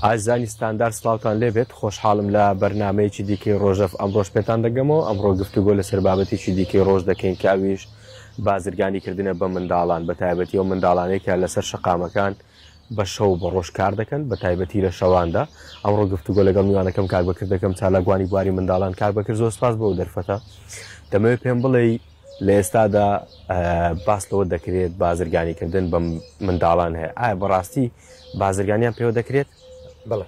ئازانی ستاندار سلااوان لێبێت خۆشحاڵم لە بەرنمەیەکی دیکەی ڕۆژەف ئەمڕۆژ پێتان دەگەمەوە ئەمڕۆ گفتوگۆ لەسەر بابەتێکی دیکەی ڕۆژ دەکەین کاویش بازرگانی کردنە بە منداڵان بە تایبەتی ئەو منداڵانەی کە لەسەر شەقامەکان بە شەو و بە ڕۆژ کار دەکەن بە تایبەتی لە شەواندا ئەمڕۆ گفتوگۆ لەگەڵ میوانەکەم کاک بەکر دەکەم چالاکوانی بواری منداڵان کاک بەکر زۆر سپاس بۆ دەرفەتە دەمەوێت پێم بڵێ لە ئێستادا باس لەوە دەکرێت بازرگانیکردن بە منداڵان هەیە ئایا بەڕاستی بازرگانیان پێوە دەکرێت بڵێ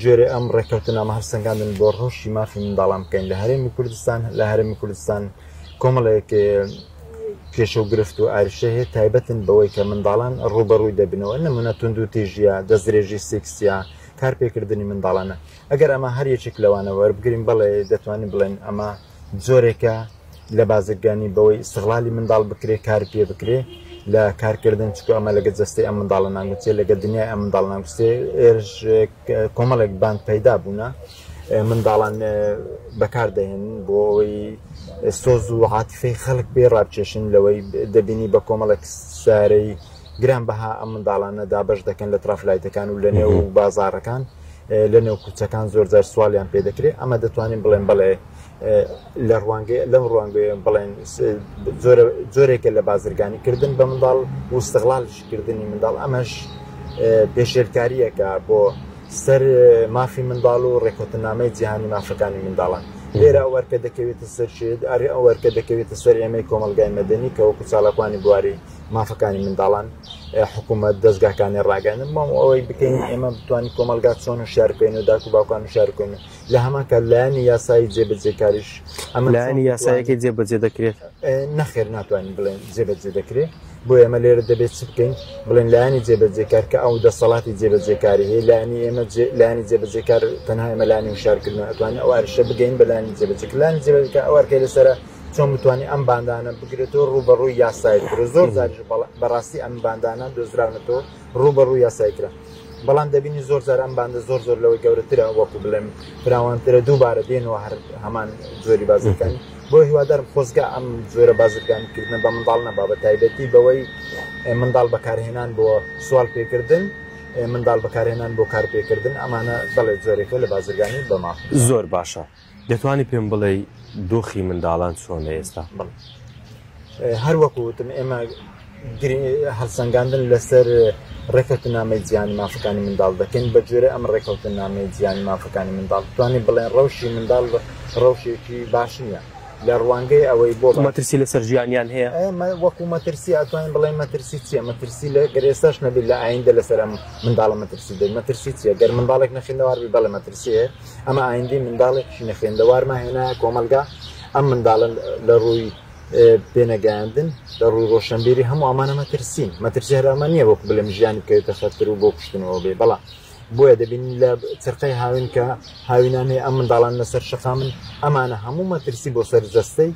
گوێرەی ئەم ڕێککەوتنامە هەڵسەنگاندن بۆ ڕەوشی مافی منداڵان بکەین لە هەرێمی کوردستان لە هەرێمی کوردستان کۆمەڵێک کێشە و گرفت و ئاریشە هەیە تایبەتن بەوەی کە منداڵان ڕوبەڕووی دەبنەوە نمونە تونند و تێژیە دەستدرێژی سیکسیا کارپێکردنی منداڵانە ئەگەر ئەمە هەر یەکێک لەوانە وەربگرین بەڵێ دەتوانین بڵێن ئەمە جۆرێکە لە بازرگانی بەوەی ئیستغلالی منداڵ بکرێ کار پێ بکرێ لە کارکردن چکو ئەمە لەگە جەستەی ئەم منداڵە ناگوچێ لەگە دنیای ئەم منداڵ ناگوستێ ئێرش کۆمەڵێک بان پەیدا بوونە منداڵان بەکار دەهێن بۆ ئەوەی سۆز و عاتفەی خەڵک پێ ڕابکێشن لەوەی دەبینی بە کۆمەڵێک سارەی گرانبەها ئەم منداڵانە دابەش دەکەن لە ترافلایتەکان و لە نێو بازارەکان لە نێو کوچەکان زۆرجار سوالیان پێ دەکرێت ئەمە دەتوانین بڵێن بڵێ لە ڕوانگە لەم ڕوانگوێ بڵێن زۆرێکە لە بازرگانی کردن بە منداڵ وستغڵالشکردنی منداڵ ئەمەش پێشێلکاریەکە بۆ سەر مافی منداڵ و ڕێکوتنامەی جیهانی مافەکانی منداڵان لێرە ئەوەرکە دەکەوێتە سەر شێت ئەری ئەوەرکە دەکەوێتە سەر ئێمەی کۆمەلگای مەدەنی کە وەکو چاڵکوانی بواری مافەکانی منداڵان حکوومەت دەستگاکانی ڕاگەنن مام ئەوەی بکەین ئێمە بتوانین کۆمەلگات چۆن و شارکەین و داکو باوکان و شارکەن و لە هەمانکە لایانی یاسایی جێبەجێکاریش ئەمە لایانی یاسایەکە جێبەجێ دەکرێت نەخێر ناتوانین بڵێن جێبەجێ دەکرێت بۆ ئێمە لێرە دەبێت چ بکەین بڵێن لایانی جێبەجێکار کە ئەو دەسەڵاتی جێبەجێکاری هەیە لایانی ئێمە لایانی جێبەجێکار تەنها ئێمە لانی و شارکردن ئەتوانین ئەو عرشە بگەین بەلانی جێبەجێکلانی جێبەجێکە ئەوارکە لەسرە چۆن بتوانانی ئەم باندانە بگرێتەوە ڕوو بە ڕووی یاسایی کرە زۆر زاریش بەڕاستی ئەم باندانە دۆزراونەتەوە ڕوو بە ڕوو یاسایی کرا بەڵام دەبینی زۆر زار ئەم باندە زۆر زۆر لەوەی گەورەترە وەکو بڵێم فراوانترە دووبارە دێنەوە هەر هەمان جۆری بازەکانی بۆ هیوادارم خۆزگە ئەم جۆرە بازرگانی کردنە بە منداڵ نەبا بە تایبەتی بەوەی منداڵ بەکارهێنان بۆ سوال پێکردن منداڵ بەکارهێنان بۆ کارپێکردن ئەمانە بەڵێ جۆرێکە لە بازرگانی بەما زۆر باشە دەتوانی پێم بڵێی دۆخی منداڵان چۆنە ئێستا؟ بەڵێ هەر وەکو وتم ئێمە هەڵسەنگاندن لەسەر ڕێکەوتن نامی جیانی مافەکانی منداڵ دەکەین بە جۆرە ئەم ڕێکەوتن نامی جیانی مافەکانی منداڵ توانین بڵێن ڕەوشی منداڵ ڕەوشێکی باش نییە لە ڕوانگەی ئەوەی بۆ مەترسی لەسەر ژیانیان هەیە ئەمە وەکو مەترسی ئەتوانین بڵێن مەترسی چیە مەترسی لە گەرێسەش نەبیت لە ئایندە لەسەر ئەم منداڵە مەترسی دەی مەترسی چیە گەر منداڵێک نەخێنەواربی بەڵێ مەترسیە ئەمە ئایندی منداڵێکی نەخێندەوارمان هێنایە کۆمەلگا ئەم منداڵە لە ڕووی پێنەگەاندن لە ڕووی ڕۆشنبیری هەموو ئەمانە مەترسین مەترسی هەرامە نییە وەکو بلم ژیانی بکەوێتە خەتر و بۆ کوشتنەوە بێ بەڵا بۆیە دەبین لە چرقەی هاوین کە هاوینانێ ئەم منداڵان لەسەر شقا من ئەمانە هەموو مەترسی بۆ سەر جەستەی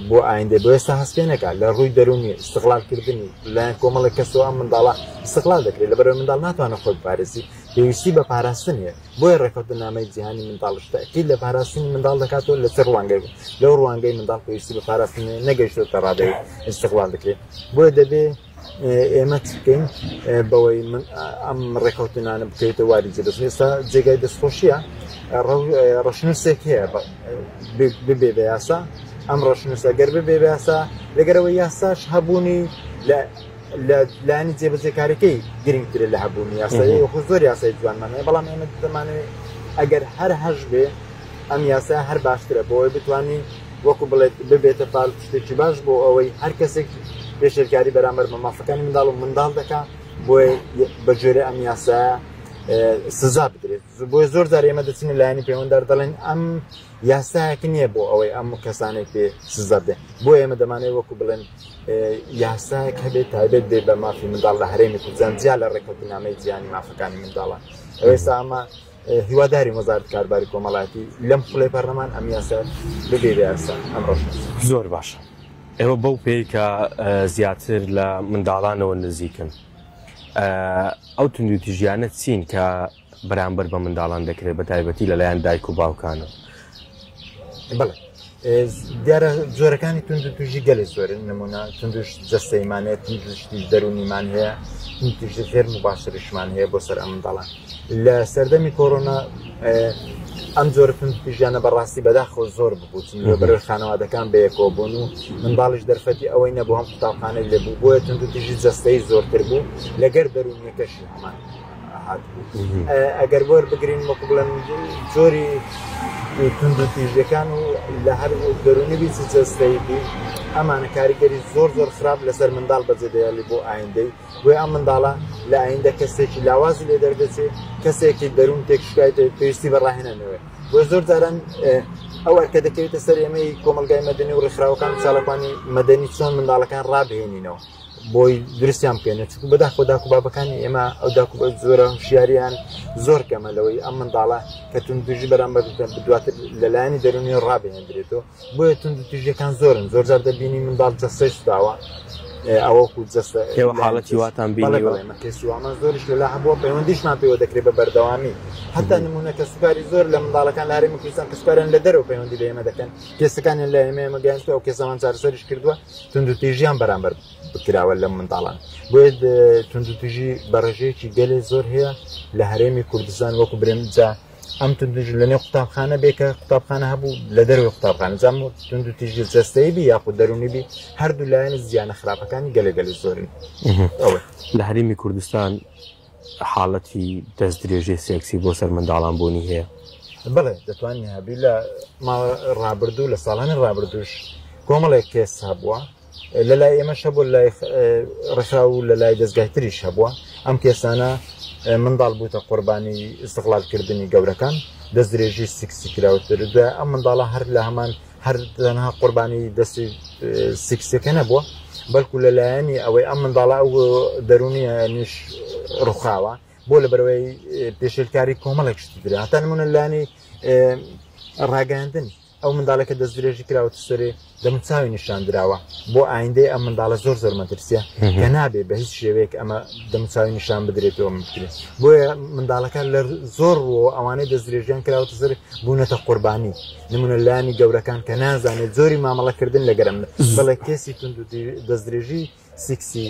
بۆ ئایندێ بۆ ئێستا هەست پێێنەکە لە ڕووی دەرونی استغلالکردنی لایەن کۆمەڵی کەسەوە ئەم منداڵە استغلال دەکرێت لە بەرەوەی منداڵ ناتوانە خۆی پارێزی پێویستی بە پاراستن هەیە بۆیە ڕێکەوتننامەی جیهانی منداڵیش تاکید لە پاراستنی منداڵ دەکاتەوە لە چ ڕوانگەی بوو لەو ڕوانگەی منداڵ پێویستی بە پاراستن نەگەیشتوتە ڕادەی استقلال بکرێت بۆیە دەبێ ئێمە بکەین بەوەی من ئەم ڕێکەوتنانە بکەیتە واری جێدەست ئێستا جێگای دەستخۆشیە ڕەشنووسێک هەیە ببێ بە یاسا ئەم ڕەشنووسە گەر ببێ یاسا لەگەرەوە یاساش هەبوونی لە لە لایەنی جێبەجێکارەکەی گرنگترە لە هەبوونی یاسایی وەکو زۆر یاسای جوانمانە بەڵام ئێمە دەمانەوێت ئەگەر هەر هەش بێ ئەم یاسا هەر باشترە بۆی بتانی وەکو بڵێت ببێتە پار شتێکی باش بۆ ئەوەی هەر کەسێک پێشێلکاری بەرامبەر بە مافەکانی منداڵ و منداڵ دەکات بۆ بەجێرە ئەم یاسا سزا بدرێت بۆیە زۆر جار ئێمە دەچینە لایەنی پەیوەندار دەڵێن ئەم یاسایەک نییە بۆ ئەوەی ئەم کەسانێک پێ سزا بدەن بۆ ئێمە دەمانەوە وەکو بڵێن یاسایەک هەبێت تایبێت بێ بە مافی منداڵ لە هەرێمی کوردستان جیا لە ڕێککەوتنامەی جیهانی مافەکانی منداڵە ئێستا ئەمە هیواداری وەزارت کارباری کۆمەڵاتی لەم خولێ پەرلەمان ئەم یاسا ببێرە یاسا ئەم ڕۆژ زۆر باشە ئێوە بەو پێی کە زیاتر لە منداڵانەوە نزیکن ئەو توندوتیژیانە چین کە بەرامبەر بە منداڵان دەکرێت بە تایبەتی لەلایەن دایک و باوکانەوە بڵێ دیارە جۆرەکانی توندو توژی گەلی زۆرن نمونە توندش جەستەیمانەیە توندشتی دەرونیمان هەیە توندش زێر مباشرشمان هەیە بۆ سەر ئەم دەڵات لە سەردەمی کۆرۆنا ئەم جۆرە توندوتیژیانە بەڕاستی بەداخەوە زۆر ببوو چونکە بەرەو خانەوادەکان بەیەکەوە بوون و منداڵیش دەرفەتی ئەوەی نەبوو هەم قوتابخانەی لێ بوو بۆیە توندوتیژی جەستەی زۆرتر بوو لەگەر دەروونیەکەشی هەمان هاتبوو ئەگەر بۆر بگرین وەکو بڵێن جۆری توندوتیژەکان و لە هەر دەرونی بیچ جەستەی بی ئەمانە کاریگەری زۆر زۆر خراپ لەسەر منداڵ بەجێدەیالی بۆ ئایندەی بۆیە ئەم منداڵە لە ئایندە کەسێکی لاوازی لێ دەردەچێ کەسێکی دەروون تێکشکایت پێویستی بە ڕاهێنانەوە بۆ زۆر جاران ئەو ئەرکە دەکەوێتە سەر ئێمەی کۆمەلگای مەدەنی و ڕێکخراوەکان چاڵەکانی مەدەنی چۆن منداڵەکان ڕابهێنینەوە بۆی درستیان بکەێنێت چکو بەدا خۆدا کوبابەکانی ئێمە ئەو داکو بە زۆرە شیاریان زۆر کەمە لەوەی ئەم منداڵە کە تون دژی بەرامبەر دواتر لەلایەنی دەرونی ڕابێنێت درێتەوە بۆیە توندوتیژیەکان زۆرن زۆرجار دەبینی منداڵ جەستەی سوتاوە ئەوەکو جەستە ئێوە حاڵەتی واتان بینیوەمەکەسیوامان زۆرش لەلا هەبووە پەیوەندیشمان پێوە دەکرێت بە بەردەوامی هەتا نمونونەکە سوکاری زۆر لە منداڵەکان لاری مکوستان کە سوکارن لە دەرەوە پەیوەندی بە ئێمە دەکەن کێسەکانیان لە ئێمە ئێمە گەیان و کێسەمان چارسەریش کردووە توندوتیژیان بەرامبەر بکراوە لە منداڵان بۆیە توندوتیژی بەڕێژەیەکی گەلێ زۆر هەیە لە هەرێمی کوردستان وەکو برێنجا ئەم توندژ لە نێو قوتابخانە بێ کە قوتابخانە هەبوو لە دەروی قوتابخانە زانم تونند و تیژی جەستەی بی یاخود دەرونی بی هەردوو لایەن زیانە خراپەکانی گەلەگەل زۆرن لە هەرمی کوردستان حاڵەتی دەست درێژەی سێکسی بۆ سەر منداڵان بوونی هەیە بڵێ دەتوانین هەبی لە ڕابردوو لە ساڵانی ڕابردوش کۆمەڵێک کێس هەبووە لە لای ئێمەش هەبوو لای ڕێکخرا و لە لای دەستگای تریش هەبووە ئەم کێسانە منداڵ بووتە قوربانی ئستغلالکردنی گەورەکان دەست درێژی سکسی کراوەتر دوای ئەم منداڵە هەر لە هەمان هەر تەنها قوربانی دەستی سکسەکە نەبووە بەڵکو لە لایەنی ئەوەی ئەم منداڵە ئەو دەرونی نیش ڕوخاوە بۆ لە بەرەوەی پێشلکاری کۆمەڵێک شتی درێ هەتا نمونە لانی ڕاگەاندن ئەو منداڵە کە دەست درێژی کراوە تسەرێ دەمن چاوی نیشان دراوە بۆ ئایندەی ئەم منداڵە زۆر زۆر مەترسیە کە نابێ بە هیچ شێوەیەک ئەمە دەم چاوی نیشان بدرێتەوە بکرێت بۆیە منداڵەکان لە زۆر ڕوەوە ئەوانەی دەست درێژیان کراوە تزر بوونەتە قوربانی نمونە لانی گەورەکان کە نازانێت زۆری مامەڵەکردن لەگەرم بڵێ کێسی تونند دەست درێژی سیکسی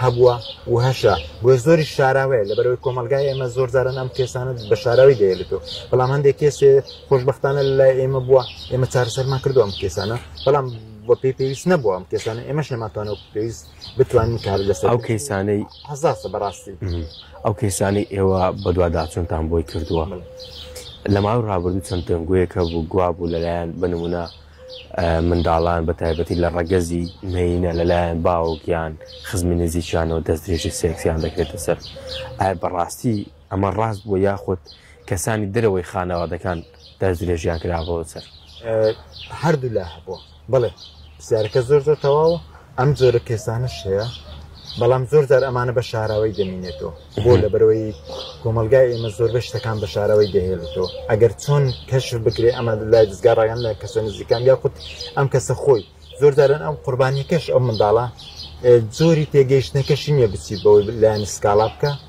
هەبووە و هەشە بۆیە زۆری شاراوەیە لەبەرەوەی کۆمەلگای ئێمە زۆر جاران ئەم کێسانە بە شاراوی دەێتەوە بەڵام هەندێک کێسێ خۆشببختانە لای ئێمە بووە ئێمە چارەسەرمان کردو ئەم کێسانە بەڵام بە پێی پێویست نەبووە ئەم کێسانە ئێمەش نەماتوانە پێویست بتوانین کار لەسەر ئەو کەیسانەی هەزاسە بەڕاستی ئەو کەیسانی ئێوە بەدوواداچونتان بۆی کردووە لە ماوەی ڕابردوو چەند دەنگوەیەکە بوو گوابوو لەلایەن بنمونە منداڵان بە تایبەتی لە ڕەگەزی مێینە لەلایەن باوک یان خزمی نزیکیانەوە دەست درێژی سێکسیان دەکرێتە سەر ئایا بەڕاستی ئەمە ڕاست بووە یاخود کەسانی دەرەوەی خانەوادەکان دەست درێژیان کرابەوە سەر هەردوولا هەبووە بڵێ پرسیارەکە زۆر زۆر تەواوە ئەم جۆرە کێسانەش هەیە بەڵام زۆر جار ئەمانە بە شاراوەی دەمینێتەوە بۆ لە بەرەوەی کۆمەلگای ئێمە زۆربەی شتەکان بە شاراوەی دەهێڵێتەوە ئەگەر چۆن کەش بکرێ ئەمە لای دەستگا ڕایان لە کەسە نزیکان یا خود ئەم کەسە خۆی زۆر جاران ئەم قوربانیەکەش ئەو منداڵە زۆری تێگەیشتنەکەشی نییە بچی بەوەی لایەن سکاڵا بکە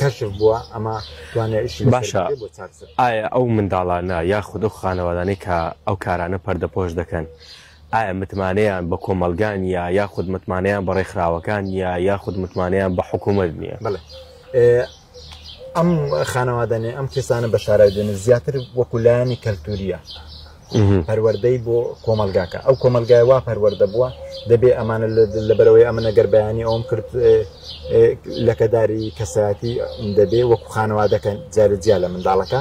کەشف بووە ئەمە توانێت ئیشی لەسەر باشە بکرێت بۆ چارەسەر ئایا ئەو منداڵانە یاخود ئەو خانەوادانەی کە ئەو کارانە پەردەپۆش دەکەن ئایا متمانەیان بە کۆمەڵگا نیە یاخود متمانەیان بە ڕێکخراوەکان نیە یاخود متمانەیان بە حکوومەت نییە بڵێ ئەم خانەوادانێ ئەم کەسانە بە شارای دێنە زیاتر وەکولایانی کەلتوریە پەروەردەی بۆ کۆمەلگاکە ئەو کۆمەلگای وا پەروەەردە بووە دەبێ ئەمانە لەبەرەوەی ئەمە نەگەر بەیانی ئەوم کرد لەکەداری کەسایەتی دەبێ وەکو خانەوادەکە جارە جیا لە منداڵەکە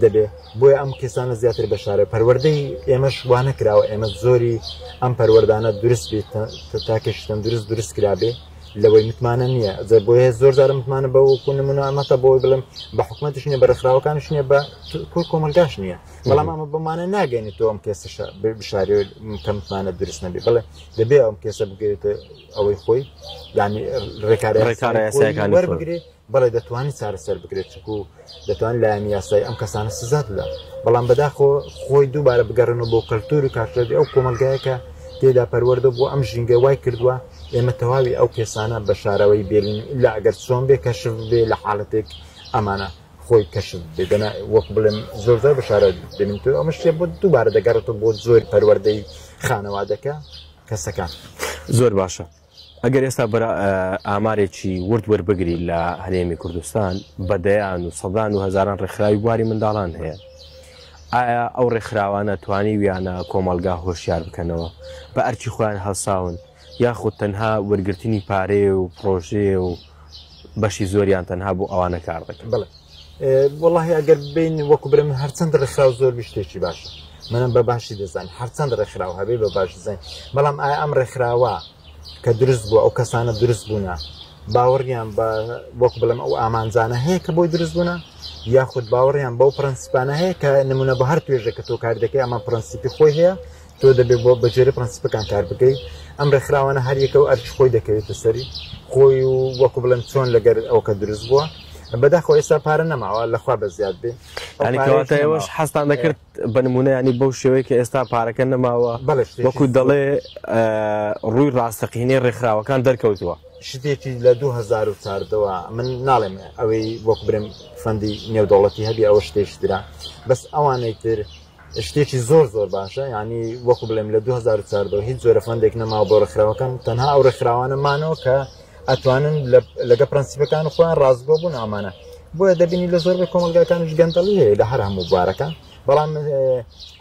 دەبێ بۆیە ئەم کەسانە زیاتر بەشارە پەروەەردەی ئێمەش وانە کراوە ئێمە زۆری ئەم پەروەەردانە درست بێت تاکەشتن درست درست کرابێ لەوەی متمانە نییە زە بۆیە زۆر زارە متمانە بەوەکو نمونە ئەمەتە بۆی بڵم بە حکومەتش نیە بە ڕێکخراوەکانش نیە بە کۆمەلگاش نییە بەڵام ئەمە بمانە ناگەێنێت تۆ ئەم کێسە بشارێ کە متمانە درست نەبێ بڵێ دەبێ ئەم کێسە بگرێت ئەوەی خۆی ینی ڕێکارەکان وەربگرێ بەڵێ دەتوانانی چارەسەر بکرێت چکو دەتوان لایەن یاسای ئەم کەسانە سزات لە بەڵام بەداخۆ خۆی دووبارە بگەڕن و بۆ کەلتور و کارکردی ئەو کۆمەلگایەکە تێدا پەروەەردە بۆ ئەم ژینگە وای کردووە ئێمە تەواوی ئەو کێسانە بە شارەوەی بێلین لە ئەگەر چۆن بێ کەشف بێ لە حاڵەتێک ئەمانە خۆی کەشف بێ دەنا وەک بڵێم زۆرزار بە شارە بێنم تۆ ئەمە شتێ بۆ دووبارە دەگەڕێتەوە بۆ زۆر پەروەردەی خانەوادەکە کەسەکان زۆر باشە ئەگەر ئێستا بەرە ئامارێکی ورد وەربگری لە هەرێمی کوردستان بە دەیان و سەدان و هزاران ڕێکخراوی بواری منداڵان هەیە ئایا ئەو ڕێکخراوانە توانی ویانە کۆمەلگا هۆشیار بکەنەوە بە ئەرکی خۆیان هەڵساون یاخود تەنها وەرگرتنی پارەیە و پڕۆژەیە و بەشی زۆریان تەنها بۆ ئەوانە کار دەکەن؟ بڵێ وەڵاهی ئەگەر بین وەکو برم هەرچەند ڕێکخراو زۆر بشتێکی باشە منم بە باشی دەزانین هەرچەند ڕێکخراو هەبێ بە باش دەزانین بەڵام ئایا ئەم ڕێکخراوە کە دروست بووە ئەو کەسانە دروست بوونە باوەڕیان بە وەک بڵم ئەو ئامانجانە هەیە کە بۆی دروست بوونە یاخود باوەڕیان بەو پرەنسیپانە هەیە کە نمونە بە هەر توێژێک کە تۆ کار دەکەی ئەمە پرەنسیپی خۆی هەیە تۆ دەبێت بۆ بەگوێرەی پرەنسیپەکان کار بکەیت ئەم ڕێکخراوانە هەر یەکە و ئەرکی خۆی دەکەوێتە سەری خۆی و وەکو بڵێم چۆن لەگەر ئەوکە دروست بووە بەداخەوە ئێستا پارە نەماوە لەخوا بە زیاد بێ ئەو ینی پارەیەش کەواتە نەماوە. ئێوەش حەزتان دەکرد بە نمونە ینی بەو شێوەیە کە ئێستا پارەکە نەماوە بەڵێ شتێکی وەکو زۆر. دەڵێ ئە، ڕووی ڕاستەقینەی ڕێکخراوەکان دەرکەوتووە شتێکی لە 2014ەوە من ناڵێم ئەوەی وەک برێم فەندی نێودەوڵەتی هەبی ئەوە شتێکی ترە بەس ئەوانەی تر شتێکی زۆر زۆر باشە یعنی وەکو بڵێم لە 2014 هیچ جۆرە فەندێک نەماوە بۆ ڕێکخراوەکان تەنها ئەو ڕێکخراوانە مانەوە کە ئەتوانن لەگە پرەنسیپەکان و خۆیان ڕاستگۆ بوون ئامانە بۆیە دەبینی لە زۆر بە کۆمەلگاکانیش گەندەڵی هەیە لە هەر هەموو بوارەکان بەڵام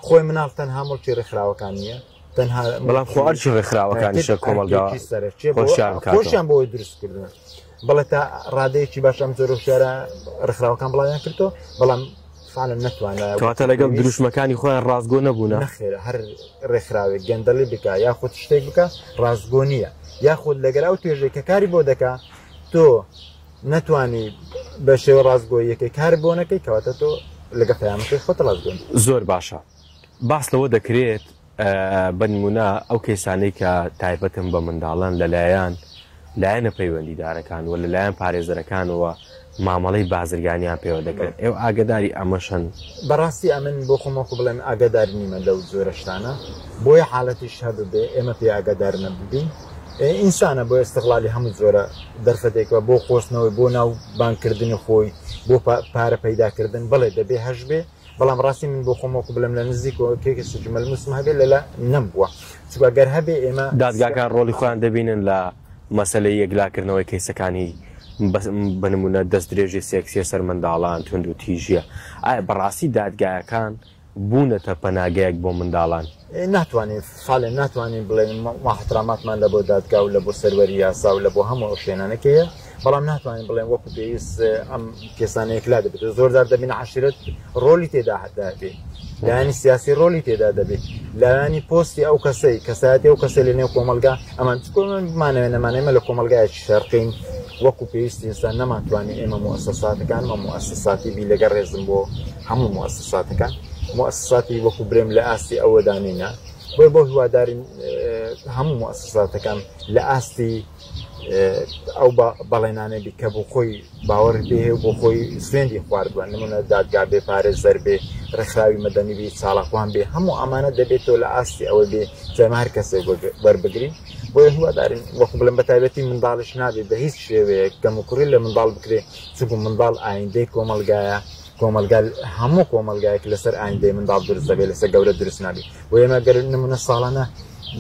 خۆی مناڵ تەنها مڵکی ڕێکخراوەکان نیە تەنها بەڵام خۆ ئەرچی ڕێکخراوەکانیشە کۆمەلگا سەرەکیە خۆشیان بۆی دروستکردن بەڵێ تا ڕادەیەکی باش ئەم جۆرە شارە ڕخراوەکان بڵاویان کردو بەڵام فعلەن نەتوانەواتە لەگەڵ دروشمەکانی خۆیان ڕاستگۆ نەبوون نەخێرە هەر ڕێکخراوێک گەندەڵی بکە یاخود شتێک بکە ڕاستگۆ نییە یاخود لەگەر ئەو توێژێک کە کاری بۆ دەکا تۆ نەتوانی بە شێوە ڕاستگۆیەکەی کار بۆ نەکەی کەواتە تۆ لەگە پەیامەکەی خۆت ڕاستگۆن زۆر باشە باس لەوە دەکرێت بە نموونە ئەو کەیسانەی کە تایبەتن بە منداڵان لەلایەن لایەنە پەیوەندیدارەکان و لەلایەن پارێزەرەکانەوە مامەڵەی بازرگانیان پێوە دەکرێت، ئێوە ئاگەداری ئەمەشن؟ بەڕاستی ئەمن بۆ خۆم وەکو بڵێم ئاگەدار نیمە لەو جۆرە شتانە، بۆیە حالەتیش هەببێ ئێمە پێی ئاگەدار نەببین ئینسانە بۆ ئیستغلالی هەموو جۆرە دەرفەتێک بە بۆ قۆستنەوەی بۆ ناو بانگکردنی خۆی بۆ پارە پەیداکردن بەڵێ دەبێ هەشبێ، بەڵام ڕاستی من بۆخۆم وەکو بڵێم لە نزیکەوە کێکێسی جمەلموسم هەبێت لەلا نەمبووە چونکە گەر هەبێ ئێمە دادگاکان ڕۆڵی خۆیان دەبینن لە مەسەلەی یەکلاکردنەوەی کەیسەکانی بە نموونە دەستدرێژی سێکسییە سەر منداڵان، توندوتیژییە. ئایا بەڕاستی دادگایەکان بوونەتە پەناگەیەک بۆ منداڵان؟ ناتوانین سالێ ناتوانین بڵێن ماحتراماتمان لە بۆ دادگا و لە بۆ سەروەری یاسا و لە بۆ هەموو ئەو شوێنانەکەیە بەڵام ناتوانین بڵێن وەکو پێویست ئەم کێسانەیەک لا دەبێت زۆردار دەبین عشرەت ڕۆلی تێدا هەدابێت لایانی سیاسی ڕۆلی تێدا دەبێت لایانی پۆستی ئەو کەسەی کەسایەتی ئەو کەسە لە نێو کۆمەلگا ئەمان چکۆمانەوە نەمانێمە لە کۆمەلگایەکی شەرقین وەکو پێویستی ئستا نەمانتوانی ئێمە موسەساتەکان مە موسەساتی بی لەگە ڕێزم بۆ هەموو موسساتەکان موسساتی وەکو برێم لە ئاستی ئەوەدا نینە بۆ بۆ هیوادارین هەموو موسساتەکان لە ئاستی ئەو بەڵێنانە بی کە بۆ خۆی باوەڕی پێ بۆ خۆی سوێندی خواردووە نمونە دادگا بێ پارێز زەر بێ ڕێکخراوی مەدەنی بی چاڵاخوان بێ هەموو ئەمانە دەبێتەوە لە ئاستی ئەوە بێ جەمە هەر کەسێ وەربگرین بۆ هیوادارین وەکو بڵم بە تایبەتی منداڵش نابێت بە هیچ شێوەیە کەم و کوڕی لە منداڵ بکرێت چگو منداڵ ئایندەی کۆمەلگایە کۆمەڵگا هەموو کۆمەلگایەک لەسەر ئایندەی منداڵ دروست دەبێت لەسەر گەورە دروست نابی و ئێمە گەر نمونە ساڵانە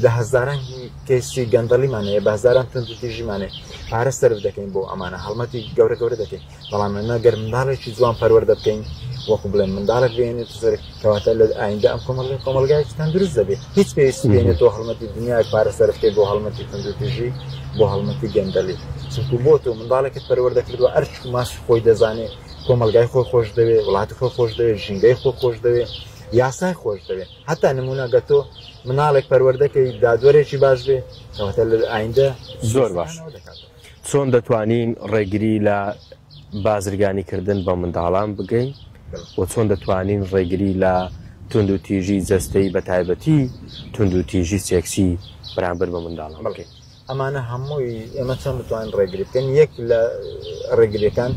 لە هەزاران کەسی گەندەڵیمانەیە بە هزاران تونند تیژیمانێ پارە سرف دەکەین بۆ ئەمانە هەڵمەتی گەورە گەورە دەکەین بەڵام ئەمە گەر منداڵێکی جوان پەروەەر دەبکەین وەکو بڵێن منداڵک بێنێت سەر کەواتە لە ئایندا ئەم کۆمەڵ کۆمەلگایکی تەندروست دەبێت هیچ پێویستی بێنێت تۆ هەڵمەتی دنیای پارە سەرفکەی بۆ هەڵمەتی تەندروتیژی بۆ هەڵمەتی گەندەلی چونکو بۆ تۆ منداڵێکت پەروەەر دەکردوە ئەرچ ماش خۆی دەزانێت کۆمەلگای خۆی خۆش دەوێ وڵاتی خۆی خۆش دەوێ ژینگەی خۆ خۆش دەوێ یاسای خۆش دەوێ هەتا نمونە گەتۆ مناڵێک پەروەردەکەی دادوەرێکی باش بێ کەواتە لە ئایندە زۆر باش چۆن دەتوانین ڕێگری لە بازرگانی کردن بە منداڵان بگەین و چۆن دەتوانین ڕێگری لە تونند و تیژی جەستەی بە تایبەتی تونند و تیژی سێکسی بەرامبەر بە منداڵان بکەین ئەمانە هەمووی ئێمە چۆن بتوانین ڕێگری بکەین یەک لە ڕێگریەکان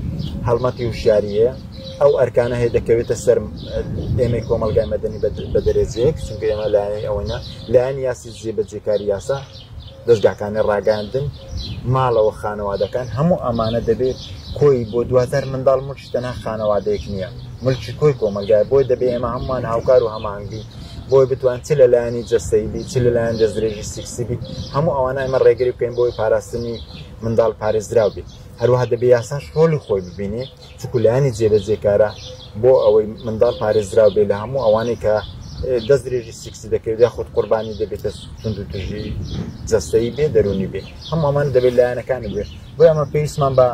هەڵمەتی وشیاریە ئەو ئەرکانە هەیە دەکەوێتە سەر ئێمە کۆمەلگای مەدەنی بە دەرەجەیەک چونکە ئێمە لایەنی ئەوەنە لایەن یاسی زیێ بەجێکاری یاسا دەستگاکانی ڕاگەاندن ماڵەوە خانەوادەکان هەموو ئەمانە دەبێت کۆی بۆ دواتر منداڵ تەنها خانەوادەیەک نییە، ملکی کۆی کۆمەلگایە، بۆیە دەبێ ئێمە هەمووان هاوکار و هەماهەنگ بین، بۆی بتوان چ لە لایەنی جەستەیی بی، چ لە لایەن دەستدرێژی سیکسی بی، هەموو ئەوانە ئێمە ڕێگری بکەین بۆی پاراستنی منداڵ پارێزراو بی. هەروەها دەبێ یاساش ڕۆلی خۆی ببینێ، چونکو لایەنی جێبەجێکارە بۆ ئەوەی منداڵ پارێزراو بێ لە هەموو ئەوانەی کە دەستدرێژی سیکسی دەکەوێت یاخود قوربانی دەبێتە توندوتیژی جەستەیی بێ، دەروونی بێ، هەموو ئەمانە دەبێ لایەنەکانی بێ. بۆیە ئەمە پێویستمان بە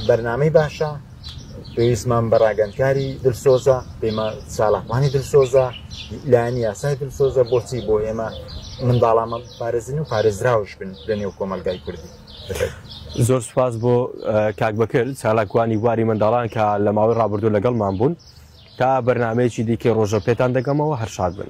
بەرنامەی باشە پێویستمان بە ڕاگەندکاری دلسۆزە پێمە چالاکوانی دلسۆزە لایەنی یاسای دلسۆزە بۆچی بۆ ئێمە منداڵامە پارێزن و پارێزراوش بن لە نێو کۆمەلگای کوردی. زۆر سوپاس بۆ کاک بەکر چالاکوانی بواری منداڵان کە لە ماوەی ڕابردوو لەگەڵمان بوون تا بەرنمەیەکی دیکەی ڕۆژە پێتان دەگەمەوە هەرشاد بن.